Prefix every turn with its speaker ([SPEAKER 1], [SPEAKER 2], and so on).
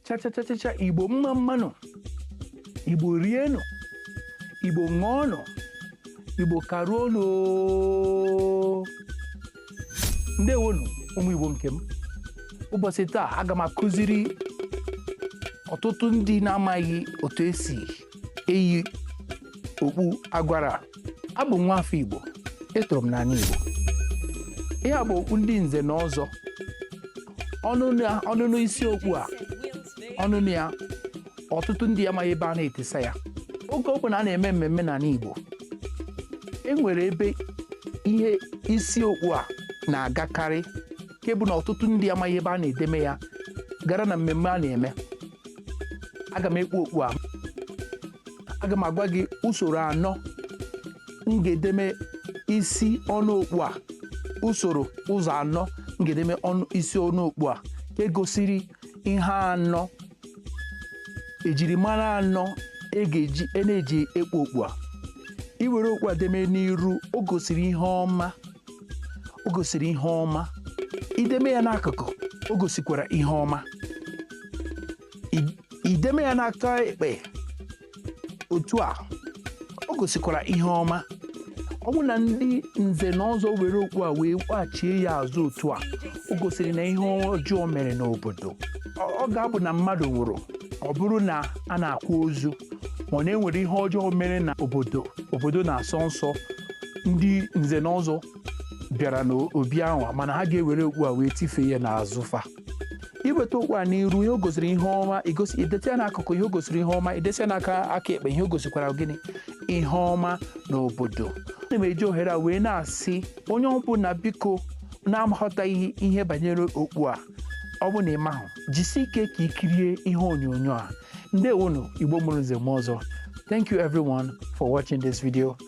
[SPEAKER 1] chachachachacha igbo mma mmanụ igbo rienụ igbo ṅụọnụ igbo karuonụ oo. ndewonụ ụmụ igbo nke m ụbọchị taa aga m akụziri ọtụtụ ndị na-amaghị otu esi eyi okpu agwara abụ m nwa afọ igbo etoro m n'ani igbo ihe a bụ okpu ndị nze na ọzọ ọnụnụ ya- ọnụnụ isi okpu a ọnụnụ ya ọtụtụ ndị amaghị ebe a na-etisa ya oge ọ bụla a na-eme mmemme n'ani igbo e nwere ebe ihe isi okpu a na-agakarị nke bụ na ọtụtụ ndị amaghị ebe a na-edeme ya gara na mmemme a na-eme aga m ekpu okpu a aga m agwa gị usoro anọ m ga-edeme isi ọnụ okpu a usoro ụzọ anọ m ga-edeme ọnụ isi ọnụ okpu a nke gosiri ihe anọ ejirimara anọ e ga-eji e na-eji ekpu okpu a i were okpu a deme n'iru o gosiri ihe ọma o gosiri ihe ọma i deme ya n'akụkụ o gosikwara ihe ọma I- i deme ya n'aka ekpe otu a o gosikwara ihe ọma ọ bụ na ndị nze na ọzọ were okpu a wee kwachie ya azụ otu a o gosiri na ihe ọjọọ mere n'obodo ọ ọ ga-abụ na mmadụ nwụrụ ọ bụrụ na a na-akwa ozu ma ọ na e nwere ihe ọjọọ mere na obodo obodo na-asọ nsọ ndị nze na ọzọ bịara n'obi ahụ a, ma na ha ga-ewere okpu a wee tifee ya n'azụ fa i weta okpu a n'iru ihe o gosiri ihe ọma i gosi i dete ya n'akụkụ ihe o gosiri ihe ọma i dete ya n'aka aka ekpe ihe o gosikwara gịnị ihe ọma n'obodo ana m eji ohere a wee na-asị onye ọbụla biko na-aghọtaghị ihe banyere okpu a ọ bụ na ị mahụ jisi ike ka ị kirie ihe onyonyo a ndewonu igbo mụrụ nze mụọ ọzọ thank you everyone for watching this video